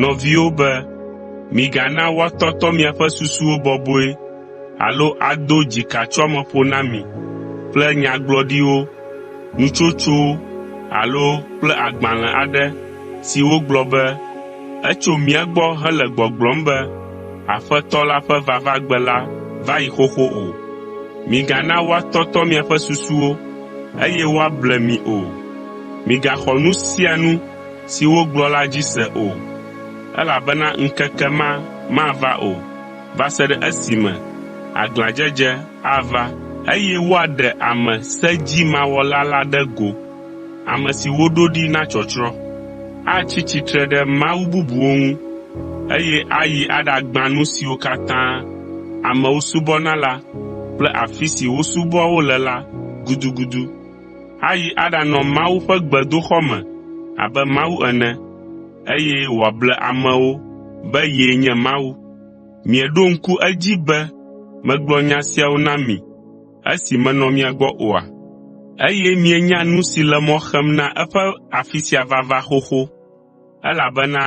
Nɔviwo be, “Migana woatɔtɔ miaƒe susuwo bɔbɔe alo ado dzikatsoameƒo na mi kple nyagblɔɖiwo, nutsotsowo alo kple agbalẽ aɖe si wogblɔ be etso mía gbɔ hele gbɔgblɔm be Aƒetɔ la ƒe vavagbe la va yi xoxo o. Migana woatɔtɔ miaƒe susuwo eye woable mi o. Migaxɔ nu sia nu si wogblɔ la dzi se o, elabena ŋkeke ma mava o va se ɖe esime aglãdzedze ava eye woaɖe ame sedzimawɔla la ɖe go, ame si woɖo ɖi na tsɔtsrɔ̃. Atsi tsitre ɖe mawu bubuwo ŋu, eye ayi aɖagbã nu siwo katã amewo subɔna la kple afi si wosubɔa wo le la gudugudu. ayi aɖanɔ Mawu ƒe gbedoxɔ me abe Mawu ene, eye wòable amewo be yee nye Mawu. Mieɖo ŋku edzi be megblɔ nya siawo na mi esi menɔ mia gbɔ oa? Eye mienya nu si le mɔ xem na eƒe afi sia vava xoxo. Elabena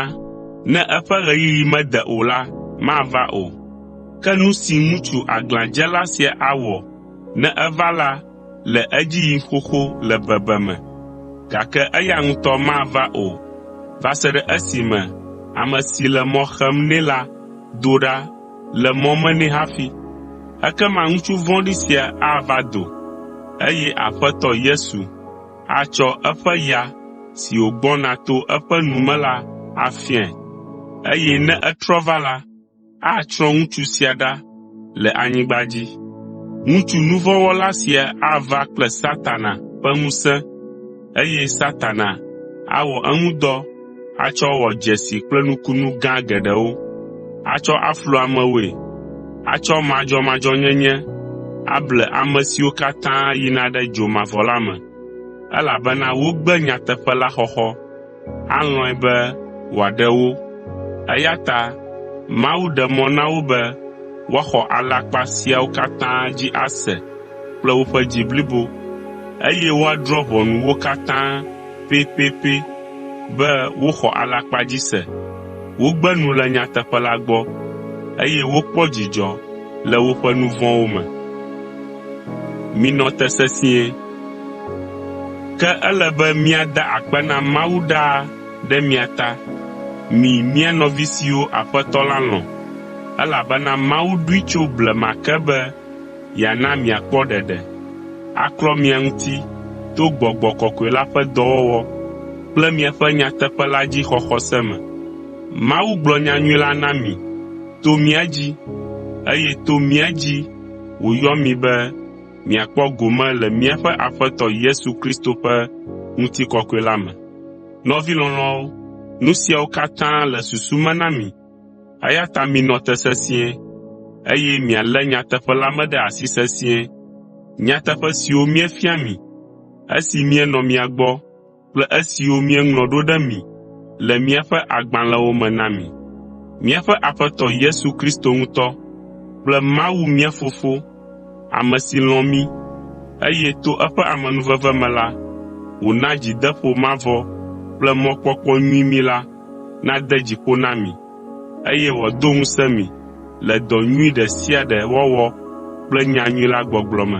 ne eƒe ɣeyiɣi mede o la, mava o. Ke nu si ŋutsu aglãdzela sia awɔ ne eva la le edzi yim xoxo le bebeme, gake eya ŋutɔ mava o va se ɖe esime ame si le mɔ xem nɛ la do ɖa le mɔ me nɛ hafi. Ekema ŋutsu vɔ̃ɖi sia ava do, eye Aƒetɔ Yesu, atsɔ eƒe ya si wògbɔna to eƒe nu me la afiae, eye ne etrɔ va la, atsrɔ̃ ŋutsu sia ɖa le anyigba dzi. Ŋutsu nu vɔ̃ wɔla sia ava kple Satana ƒe ŋusẽ, eye Satana awɔ eŋu dɔ atsɔ wɔ dzesi kple nukunu gã geɖewo, atsɔ aflu amewoe, atsɔ madzɔmadzɔnyenye able ame siwo katã yina ɖe dzo mavɔ la me, elabena wogbe nyateƒe la xɔxɔ, alɔ̃e be wòaɖe wo. Eya ta Mawu ɖe mɔ na wo be woaxɔ alakpa siawo katã dzi ase kple woƒe dzi blibo, eye woadrɔ̃ ʋɔnu wo katã pɛpɛpɛ be woxɔ alakpa dzi se, wogbe nu le nyateƒe la gbɔ, eye wokpɔ dzidzɔ le woƒe nu vɔ̃wo me. Minɔ te sesĩe. Ke ele be míada akpe na Mawu ɖaa ɖe mia ta, mi mía nɔvi siwo Aƒetɔ la lɔ̃, elabena Mawu ɖoe tso blema ke be yeana miakpɔ ɖeɖe, aklɔ mia ŋuti to gbɔgbɔ kɔkɔe la ƒe dɔwɔwɔ kple miaƒe nyateƒe la dzi xɔxɔ se me. Mawu gblɔ nyanyui la na mi to mía dzi, eye to mía dzi wòyɔ mi be miakpɔ gome le míaƒe Aƒetɔ Yesu Kristo ƒe ŋutikɔkɔe la me. Nɔvi lɔlɔ̃awo, nu siawo katã le susu me na mi, Eya ta minɔ te sesĩe, eye mialé nyateƒe la me ɖe asi sesĩe, nyateƒe siwo míefia mi, esi míenɔ mia gbɔ kple esiwo míeŋlɔ ɖo ɖe mi le míaƒe agbalẽwo me na mi. Míaƒe Aƒetɔ Yesu Kristo ŋutɔ kple Mawu mía Fofo ame si lɔ̃ mí, eye to eƒe amenuveve me la, wòna dzideƒo mavɔ kple mɔkpɔkpɔ nyui mí la, nade dzi ƒo na mi, eye wòado ŋusẽ mi le dɔ nyui ɖe sia ɖe wɔwɔ kple nyanyui la gbɔgblɔ me.